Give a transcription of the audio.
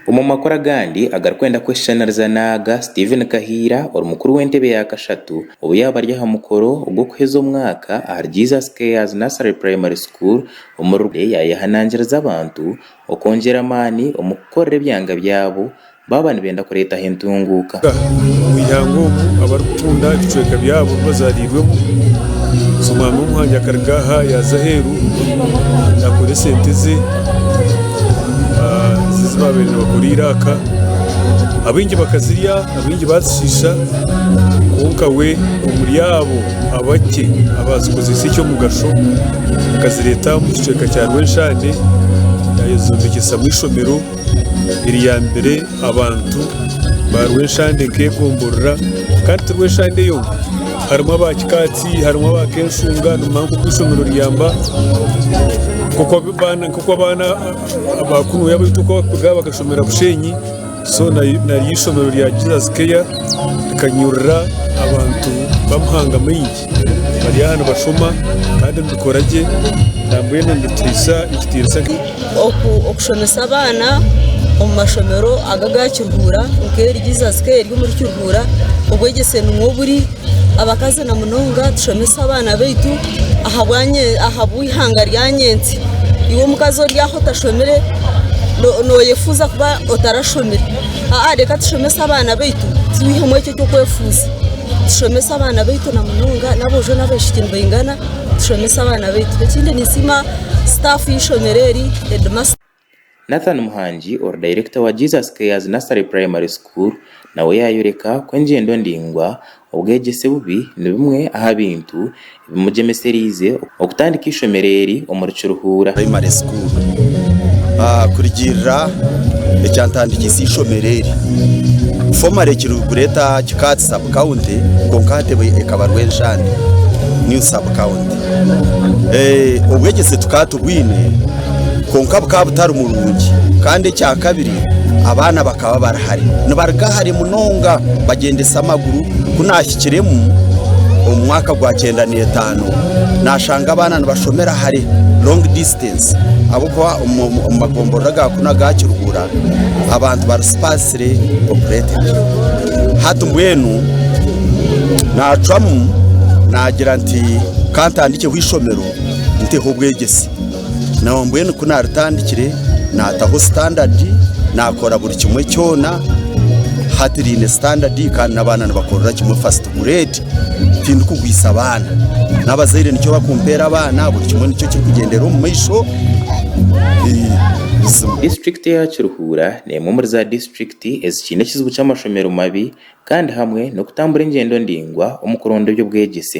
Omu makuru agandi agarikwenda kweshushaniriza n'aga, Stephen Kahiira ori mukuru w'entebe ya kashatu obu yaaba ari aha mukoro gw'okuheeza omwaka ahari Jesus Cares Nursery Primary School omu Rukungiri yaayehanangiriza abantu okwongyera amaani omu kukorera ebyanga byabo baaba nibenda kureetaho entunguuka. Omu ihanga omu abarikukunda ebicweka byabo ebi bazaariirwemu, so omwana w'omuhangi akaruga aha yaaza aheeru naakora esente ze ezi baabaire nibakora eiraaka. Abaingi bakazirya abaingi baazishiisha kwonka we omuri abo abakye abaazikozesa eky'omugasho akazireeta omu kicweka kya Rwenshaane yaayezombekyesa ishomero. eriyambire abantu ba Rweshande nk'ekomborora kandi ti Rweshande yonka harimu aba Kikaatsi harimu aba Kenshunga nimumanya nk'oku eishomero riyamba nk'oku abaana nk'oku abaana aba kunuya abaitu oku barikuruga bakashomera Bushenyi so na naryo eishomero rya Jesus care rikanyurura abantu b'amahanga maingi. Bari aha nibashoma kandi nibikora gye na mbwenu nibitiisa ekitiinisa. Okushomesa abaana omu mashomero aga aga Kiruhura nk'eri Jesus Care eri omuri Kiruhura obwegyese nimwo oburi. Abakazi na munonga tushomese abaana baitu ahabw'eihanga rya nyentsya. Iwe omukazi ori aho otashomire noyefuuza kuba otarashomire? Aa reka tushomese abaana baitu tubeihemu ekyo... Tukwefuza tushomese abaana baitu na munonga n'aboojo n'abaishiki nibaingana tushomese abaana baitu. Ekindi ninsiima sitaafu y'eishomero eri, heedimasita. Nathan Muhangi ori dayirekita wa Jesus Cares Nursery Primary School nawe yaayoreka ku engyendo ndaingwa, obwegyese bubi ni bimwe aha bintu Bimugyemesereize okutandika eishomero eri omuri Kiruhura. Primary School. Kurugiirira ekyantandikiise eishomero eri, Formally Kiruhura Kikaatsi Sub County kwonka ahatebe ekaba Rwenshande New Sub County. Obwegyese tukaba tubwine kwonka bukaba butari murungi kandi ekyakabiri abaana bakaba bari hare nibaruga hare munonga bagyendesa amaguru. Kirimu, omu mwaka gwa kyenda n'etaano nashanga abaana nibashomera hare, long distance, ahabw'okuba omu magomborora aga kunu aga Kiruhura abantu bari sparsely populated. Hati mbwenu nacwamu nagira nti kantandikyeho eishomero nteho obwegyese. Nawe mbwenu ku naatandikire naataho sitandadi, naakora buri kimwe kyona. Hati riine sitandadi kandi n'abaana nibakorera kimwe fasiti gureedi. Tindikugwisa abaana, n'abazaire nikyo barikumpeera abaana, buri kimwe nikyo kirikugyendera omu maisho buzima. Disiturikiti ya Kiruhura n'emwe omuri za disiturikiti ezikiine ekizibu ky'amashomero mabi kandi hamwe n'okutambura engyendo ndaingwa omu kuronda eby'obwegyese.